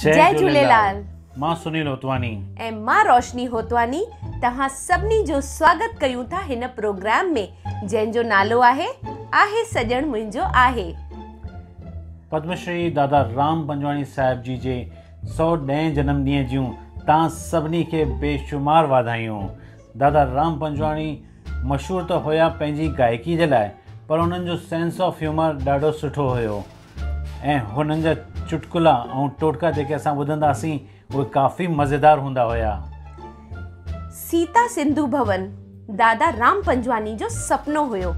جي جهوليلال مان سنيل هوتواني ۽ مان روشني هوتواني توهان سڀني جو سواگت ڪيون ٿا هن پروگرام ۾ جنهن جو نالو آهي آهي سڄڻ منهنجو آهي. پدم شري دادا رام پنجواڻي صاحب جي جي سؤ ڏهين جنم ڏينهن جون توهان سڀني کي بي شمار واڌايون دادا رام پنجواڻي مشهور ته هيا پنهنجي گائڪي جي لاء پر انهن جو سينس آف هيومر ڏاڍو سٺو هيو ۽ هنن جا چٽڪلا ۽ ٽوٽڪا جيڪي اسان ٻڌندا سين اهي ڪافي مزيدار هوندا هيا. سيتا سنڌو ڀون دادا رام پنجواني جو سپنو هيو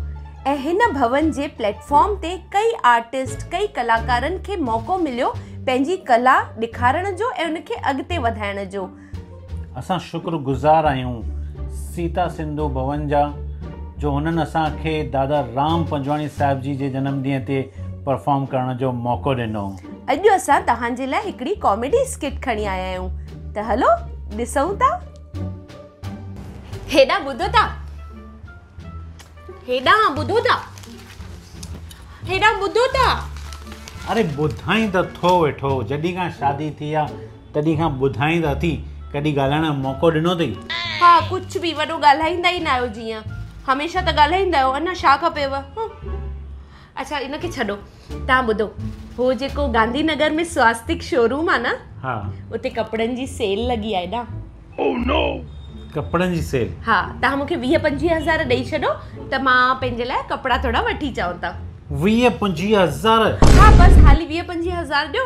۽ هن ڀون جي پليٽ فارم تي ڪئي آرٽسٽ ڪئي ڪلاڪارن کي موقعو مليو پنهنجي ڪلا ڏيکارڻ جو ۽ ان کي اڳتي وڌائڻ جو. اسان شڪر گذار آهيون سيتا سنڌو ڀون جا جو هنن اسان کي دادا رام پنجواڻي صاحب جي جي جنم ڏينهن تي پرفارم ڪرڻ جو موقعو ڏنو. اڄ اسان توهان جي لاء هڪڙي ڪاميڊي اسڪٽ کڻي آيا آهيون ته هلو ڏسون ٿا. هيڏانهن ٻڌو ته. هيڏانهن ٻڌو ته هيڏانهن ٻڌو ته اري ٻڌائين ته ٿو ويٺو جڏهن کان شادي ٿي آ تڏهن کان ٻڌائين ته اٿي ڪڏهن ڳالهائڻ جو موقعو ڏنو اٿئي ها ڪجهه به وڏو ڳالهائيندا ئي نه آهيو جيئن هميشه ته ڳالهائيندا آهيو اڃا ڇا کپيو اڇا ان کي ڇڏو تان ٻڌو هو جيڪو گانڌي نگر ۾ سواستڪ شوروم آ نه ها اتي ڪپڙن جي سيل لڳي آ ايڏا او نو ڪپڙن جي سيل ها تان مونکي ويهه پنجويهه هزار ڏئي ڇڏو ته مان پنهنجي لاء ڪپڙا ٿوڙا وٺي چئو ته ويهه پنجويهه هزار ها بس خالي ويهه پنجويهه هزار ڏيو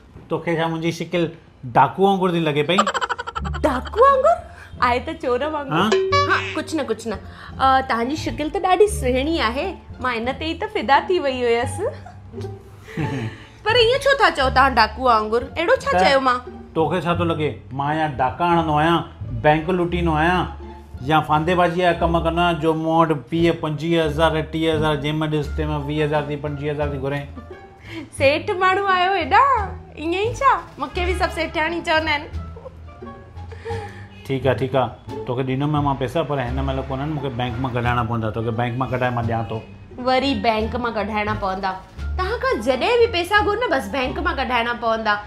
توکي ڇا منهنجي شڪل ڊاڪو وانگر ٿي لڳي پئي؟ ڊاڪو وانگر؟ آء ته چور وانگر. ها؟ ها ڪجھ نه ڪجھ نه. توهان جي شڪل ته ڏاڍي سهڻي آهي. مان ان تي ئي ته فدا ٿي وئي هيس. پر ائين ڇو ٿا چئو توهان ڊاڪو وانگر؟ اهڙو ڇا چيو مان؟ توکي ڇا ٿو لڳي مان ايئن ڊاڪا هڻندو آهيان، بئنڪ لوٽيندو آهيان يا ڦاندي بازيء جا ڪم ڪندو آهيان جو مون وٽ ويهه پنجويهه هزار ٽيهه هزار جنهن مهل ڏس تنهن مهل ويهه هزار ٿي پنجويهه هزار ٿي گهرين. سيٺ ماڻهو آهيو هيڏا ائين ئي ڇا مونکي به سڀ سيٺياڻي چوندا آهن ٺيڪ آهي ٺيڪ آهي توکي ڏيندم مان پئسا پر هن مهل ڪونهن مونکي بئنڪ مان ڪڍائڻا پوندا توکي بئنڪ مان ڪڍائي مان ڏيان ٿو وري بئنڪ مان ڪڍائڻا پوندا توهان کان جڏهن به پئسا گهر نه بس بئنڪ مان ڪڍائڻا پوندا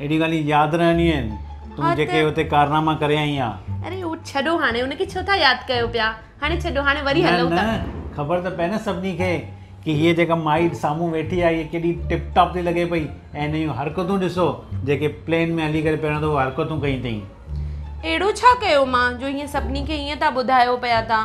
اهڙيون ڳالهيون ياد رهنديون آهن تون جيڪي اتي ڪارناما ڪري آئين آهين. اري هو ڇڏو هاڻي ان کي ڇو ٿا ياد ڪيو پيا هاڻي ڇڏو هاڻي وري هلون ٿا. نه نه خبر ته پئي نه سڀني کي ڪي هيء جيڪا مائي سامهون ويٺي آهي هيء ڪيڏي ٽپ ٽاپ ٿي لڳي پئي ۽ هن جون حرڪتون ڏسو جيڪي پلين ۾ هلي ڪري پهريون دفعو حرڪتون ڪيون اٿئي. اهڙو ڇا ڪيو مان جو هيئن سڀني کي هيئن ٿا ٻڌايو پيا تان.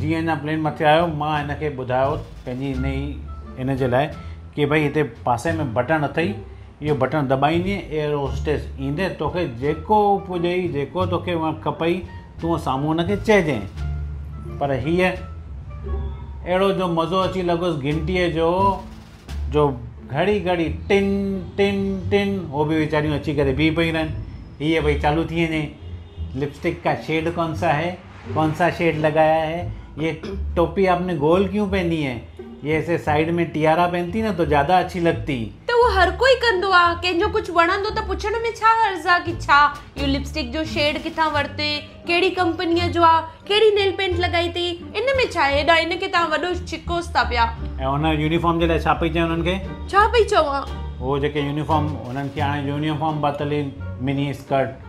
جيئن هن پلين مٿي آيو مان هن کي ٻڌايو پنهنجي هن ئي ان جي لاء ڪي ڀئي هتي پاسي ۾ بٽڻ اٿئي اهو بٽڻ دٻائيندي ايئر هوسٽيس ايندي توکي جيڪو پڄئي جيڪو توکي هونئن کپئي تون سامهون هن کي چئجئين پر هيء اهڙو جو مزو اچي لڳس گهنٽيء جو جو گهڙي گهڙي ٽن ٽن ٽن هو به ويچاريون اچي ڪري بيهي پيون رهن هيء ڀئي چالو ٿي وڃي لپسٽڪ ڪا شيڊ ڪون سا هي ڪونسا شيڊ لگايا هي يي ٽوپي آپ ني گول ڪيون پهني هي يي ايسي سائيڊ مي ٽيارا پهنتي نه تو جادا اڇي لڳتي. ته اهو هر ڪوئي ڪندو آ ڪنهن جو ڪجهه وڻندو ته پڇڻ ۾ ڇا حرض آ ڪي ڇا اهو لپسٽڪ جو شيڊ ڪٿان ورتي ڪهڙي ڪمپنيء جو آ ڪهڙي نيل پينٽ لڳائي تئي ان ۾ ڇا هيڏانهن ان کي توهان وڏو ڇڪوس ٿا پيا. ۽ هن يونيفارم جي لاء ڇا پئي چوين هنن کي. ڇا پئي چوان. اهو جيڪي يونيفارم هنن کي هاڻي يونيفارم پاتل هي مني اسڪرٽ.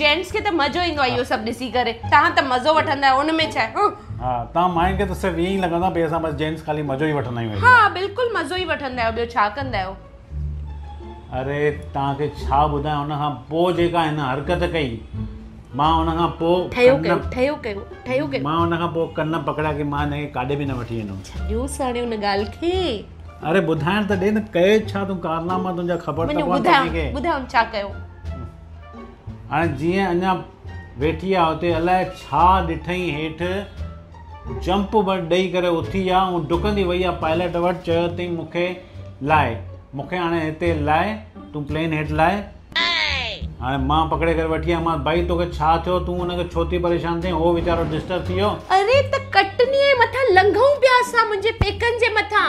جينٽس کي ته مزو ايندو آهي اهو سڀ ڏسي ڪري توهان ته مزو وٺندا آهيو ان ۾ ڇا آهي ها توهان ماين کي ته صرف ائين ئي لڳندو آهي ڀي اسان بس جينٽس خالي مزو ئي وٺندا آهيون ها بلڪل مزو ئي وٺندا آهيو ٻيو ڇا ڪندا آهيو اري توهان کي ڇا ٻڌايان ان کان پوء جيڪا هن حرڪت ڪئي مان ان کان پوء ٺهيو ڪيو ٺهيو ڪيو ٺهيو ڪيو مان ان کان پوء ڪن پڪڙيا ڪي مان هن کي ڪاڏي به نه وٺي ويندم ڇڏيوس هاڻي ان ڳالهه کي اري ٻڌائڻ ته ڏي نه ڪئي ڇا تون ڪارناما تنهنجا خبر ته پون ٻڌايون ٻڌايون ڇا ڪيو هاڻي جيئن اڃا ويٺي آ اتي الاء ڇا ڏٺئي هيٺ جمپ ڏئي ڪري اٿي آ ۽ ڊڪندي وئي آ پائلٽ وٽ چيو تي مون کي لائي مون کي هاڻي هتي لائي تون پلين هيٺ لائي هاڻي مان پڪڙي ڪري وٺي آ مان بھائي توکي ڇا ٿيو تون ان کي ڇو ٿي پريشان ٿئين هو ويچارو ڊسٽرب ٿي ويو اري ته ڪٽني مٿان لنگهون پيا اسان منهنجي پيڪن جي مٿان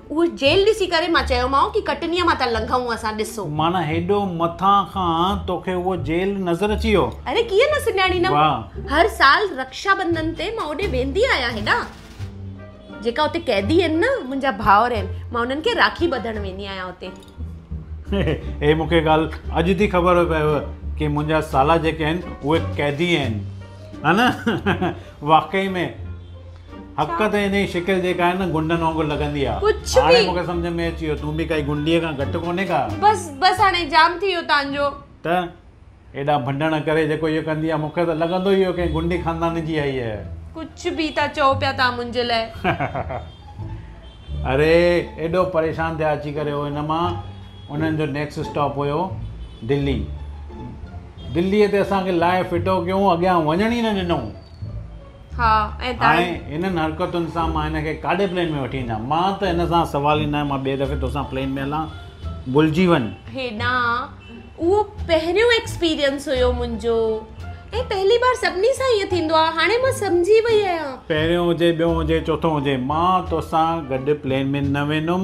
اهو جيل ڏسي ڪري مان چيومانء ڪي ڪٽنيء مان ٿا لنگهون اسان ڏسو. معنيٰ هيڏو مٿان کان توکي اهو جيل نظر اچي ويو. اري ڪيئن نه سڃاڻيندم. واهه. هر سال رڪشا بنڌن تي مان اوڏي ويندي آهيان هيڏانهن. جيڪا اتي قيدي آهن نه منهنجا ڀائر آهن مان انهن کي راکي ٻڌڻ ويندي آهيان اتي. هي مون کي ڳالهه اڄ ٿي خبر پيو ڪي منهنجا سالا جيڪي آهن اهي قيدي آهن. ها نه واقعي ۾. حق ته انهي شڪل جيڪا آهي نه گنڊن وانگر لڳندي آ. ڪڇ به. هاڻي مونکي سمجهه ۾ اچي ويو تون به ڪائي گنڊيء کان گهٽ ڪونهي ڪا. بس بس هاڻي جام ٿي ويو تانجو. ته ايڏا ڀنڊڻ ڪري جيڪو هيء ڪندي آ مونکي ته لڳندو ئي هو ڪنهن گنڊي خاندان جي آهي هيء. ڪڇ به ٿا چئو پيا تان منهنجي لاء. اري ايڏو پريشان ٿيا اچي ڪري هو هن مان انهن جو نيڪسٽ اسٽاپ هيو دلي دليء تي اسان کي لاهي ڦٽو ڪيون اڳيان وڃڻ ئي نه ڏنئون. ها ۽ تاڻي. هائي هنن حرڪتن سان مان هن کي ڪاڏي پلين ۾ وٺي وڃان؟ مان ته هن سان سوال ئي ناهي مان ٻئي دفعي توسان پلين ۾ هلان ڀلجي وڃ. هيڏانهن اهو پهريون ايڪسپيرينس هيو منهنجو ۽ پهلي بار سڀني سان ائين ٿيندو آهي هاڻي مان سمجهي وئي آهيان. پهريون هجي ٻيون هجي چوٿون هجي مان توسان گڏ پلين ۾ نه ويندم.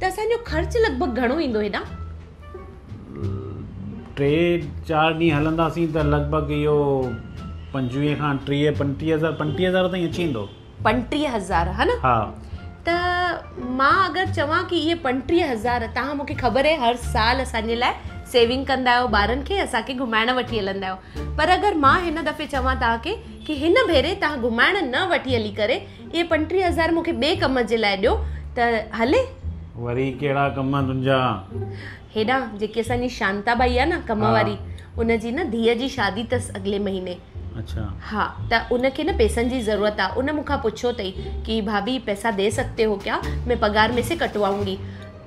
ته اسان جو خرچ لڳ ڀڳ گهڻو ايندو هيڏانهن؟ ٽي چار ڏينهن هلنداسين ته لڳ ڀڳ اهو پنجويهه کان ٽيهه پنٽيهه هزار پنٽيهه هزار تائين اچي ويندو پنٽيهه هزار ها نه ها ته مان اگر چوان ڪي اهي پنٽيهه هزار تهان مونکي خبر هي هر سال اسان جي لاء سيونگ ڪندا آهيو ٻارن کي اسان کي گهمائڻ وٺي هلندا آهيو پر اگر مان هن دفعي چوان تهان کي ڪي هن ڀيري تهان گهمائڻ نه وٺي هلي ڪري اهي پنٽيهه هزار مون کي ٻئي ڪم جي لاء ڏيو ته هلي. وري ڪهڙا ڪم تنهنجا؟ هيڏانهن جيڪي اسان جي شانتا ٻائي آهي نه ڪم واري ان جي نه ڌيء جي شادي اٿس اڳلي مهيني. اڇا. ها ته ان کي نه پئسن جي ضرورت آهي ان مون کان پڇيو اٿئي ڪي ڀاڀي پئسا دي سگهتي هو ڪيا مين پگهار مين سي ڪٽواؤنگي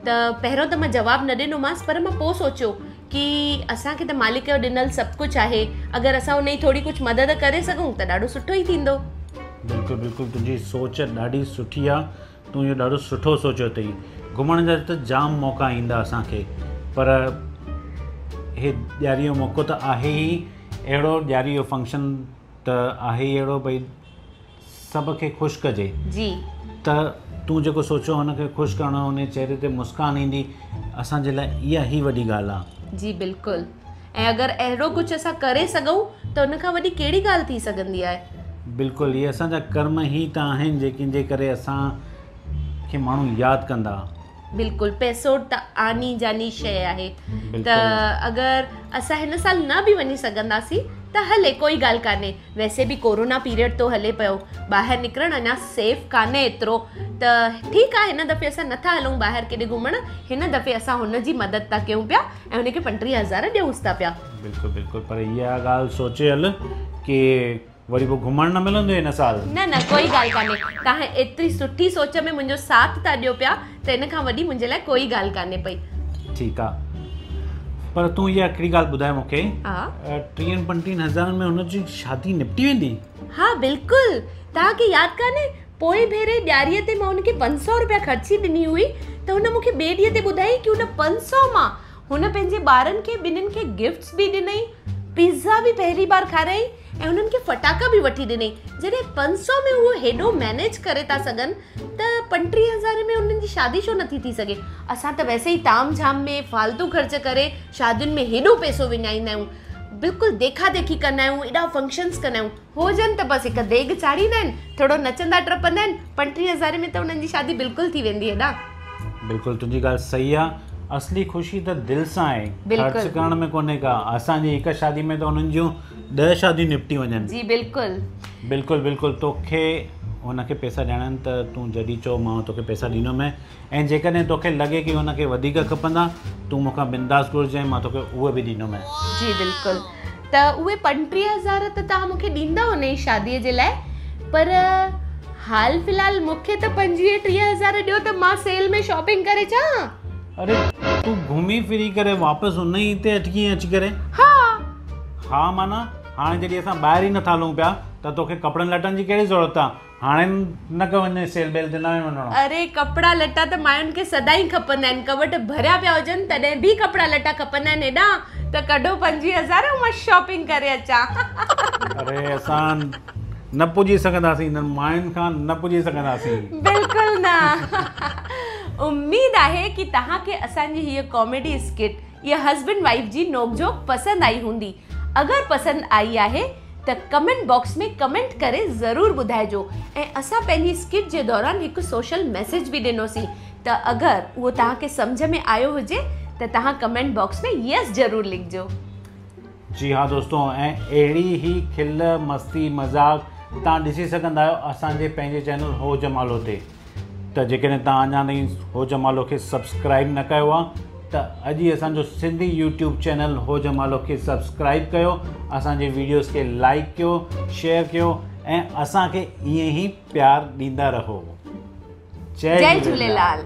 ته پهريون ته مان جواب نه ڏنومانس پر مان پوء سوچيو ڪي اسان کي ته مالڪ جو ڏنل سڀ ڪجهه آهي اگر اسان انهي ٿوري ڪجهه مدد ڪري سگهون ته ڏاڍو سٺو ئي ٿيندو. بلڪل بلڪل تنهنجي سوچ ڏاڍي سٺي آ تون اهو ڏاڍو سٺو سوچيو اٿئي گهمڻ جا ته جام موقعا ايندا اسان کي پر هي ڏياري جو موقعو ته آهي ئي اهڙو ڏياري جو فنڪشن ته آهي ئي اهڙو ڀئي سڀ کي خوش ڪجي جي ته تون جيڪو سوچيو هن کي خوش ڪرڻو هن جي چهري تي مسڪان ايندي اسان جي لاء اها هي وڏي ڳالهه آ جي بلڪل ۽ اگر اهڙو ڪجهه اسان ڪري سگهون ته ان کان وڏي ڪهڙي ڳالهه ٿي سگهندي آهي بلڪل اهي اسان جا ڪرم هي ته آهن جيڪن جي ڪري اسان کي ماڻهو ياد ڪندا بلڪل پئسو ته آني جاني شئي آهي ته اگر اسان هن سال نه به وڃي سگهنداسين ته هلي ڪوئي ڳالهه ڪانهي ويسي به ڪورونا پيريڊ ٿو هلي پيو ٻاهر نڪرڻ اڃا سيف ڪانهي ايترو ته ٺيڪ آهي هن دفعي اسان نٿا هلون ٻاهر ڪيڏي گهمڻ هن دفعي اسان هن جي مدد ٿا ڪيون پيا ۽ هن کي پنٽيهه هزار ڏيونس ٿا پيا بلڪل بلڪل پر اها ڳالهه سوچي هل ڪي وري پوء گهمڻ نه ملندو هن سال. نه نه ڪوئي ڳالهه ڪانهي توهان ايتري سٺي سوچ ۾ منهنجو ساٿ ٿا ڏيو پيا ته ان کان وڏي منهنجي لاء ڪوئي ڳالهه ڪانهي پئي. ٺيڪ آ پر تون اها هڪڙي ڳالهه ٻڌاء مون کي ٽيهن پنجٽيهن هزارن ۾ هن جي شادي نپٽي ويندي؟ ها بلڪل توهان کي ياد ڪانهي پوئين ڀيري ڏياري تي مان هن کي پنج سؤ رپيا خرچي ڏني هئي ته هن مون کي ٻئي ڏينهن تي ٻڌائين ڪي ان پنج سؤ مان هن پنهنجي ٻارن کي ٻنهن کي گفٽس به ڏنائين پيزا به پهرين بار کارائين ۽ انهن کي فٽاڪا به وٺي ڏني جڏهن پنج سؤ ۾ هو هيڏو مينيج ڪري ٿا سگهن ته پنٽيهه هزار ۾ انهن جي شادي ڇو نٿي ٿي سگهي اسان ته ويسي ئي تام جھام ۾ فالتو خرچ ڪري شادين ۾ هيڏو پئسو وڃائيندا آهيون بلڪل ديکا ديکي ڪندا آهيون ايڏا فنڪشنس ڪندا آهيون هو جن ته بس هڪ ديگ چاڙهيندا آهن ٿورو نچندا ٽپندا آهن پنٽيهه هزار ۾ ته انهن جي شادي بلڪل ٿي ويندي هيڏا بلڪل تنهنجي ڳالهه صحيح آهي اصلي خوشي ته دل سان آهي خرچ ڪرڻ ۾ ڪونهي ڪا اسان جي هڪ شادي ۾ ته انهن جون ڏهه شاديون نپٽي وڃن. جي بلڪل. بلڪل بلڪل توکي هن کي پيسا ڏيڻا آهن ته تون جڏهن چئو مان توکي پيسا ڏيندو مين ۽ جيڪڏهن توکي لڳي ڪي هن کي وڌيڪ کپندا تون مون کان بنداس گهرجين مان توکي اهي به ڏيندو مين. جي بلڪل ته اهي پنٽيهه هزار ته توهان مون کي ڏيندا هن جي شادي جي لاء پر حال فلحال مون کي ته پنجويهه ٽيهه هزار ڏيو ته مان سيل ۾ شاپنگ ڪري اچان ها. اري تون گهمي ڦري ڪري واپس ان ئي تي اٽڪي ائين اچي ڪري؟ ها. ها معنيٰ هاڻي جڏهن اسان ٻاهر ئي نٿا هلون پيا ته توکي ڪپڙن لٽن جي ڪهڙي ضرورت آ؟ هاڻي نه ڪه وڃ سيل بيل تي ناهي وڃڻو. اري ڪپڙا لٽا ته ماين کي سدائين کپندا آهن ڪٻٽ ڀريا پيا هجن تڏهن به ڪپڙا لٽا کپندا آهن هيڏانهن ته ڪڍو پنجويهه هزار ۽ مان شاپنگ ڪري اچان. اري اسان نه پڄي سگهنداسين انهن ماين کان نه پڄي سگهنداسين. بلڪل نه اميد آهي ڪي تهان کي اسان جي هيء ڪاميڊي اسڪٽ يا هسبنڊ وائيف جي نوڪ جهوڪ پسند آئي هوندي اگر پسند آئي آهي ته ڪمينٽ باڪس ۾ ڪمينٽ ڪري ضرور ٻڌائجو ۽ اسان پنهنجي اسڪٽ جي دوران هڪ سوشل ميسيج به ڏنو سين ته اگر اهو تهان کي سمجهه ۾ آيو هجي ته تهان ڪمينٽ باڪس ۾ يس ضرور لکجو. جي ها دوستو ۽ اهڙي ئي کل مستي مذاق تان ڏسي سگهندا آهيو اسان جي پنهنجي چينل هو جمالو تي ته جيڪڏهن تان اڃا تائين هو جمالو کي سبسڪرائيب نه ڪيو آهي ته اڄ ئي اسان جو سنڌي يوٽيوب چينل هو جمالو کي سبسڪرائيب ڪيو اسان جي ويڊيوز کي لائڪ ڪيو شيئر ڪيو ۽ اسان کي ائين ئي پيار ڏيندا رهو جي جي جليلال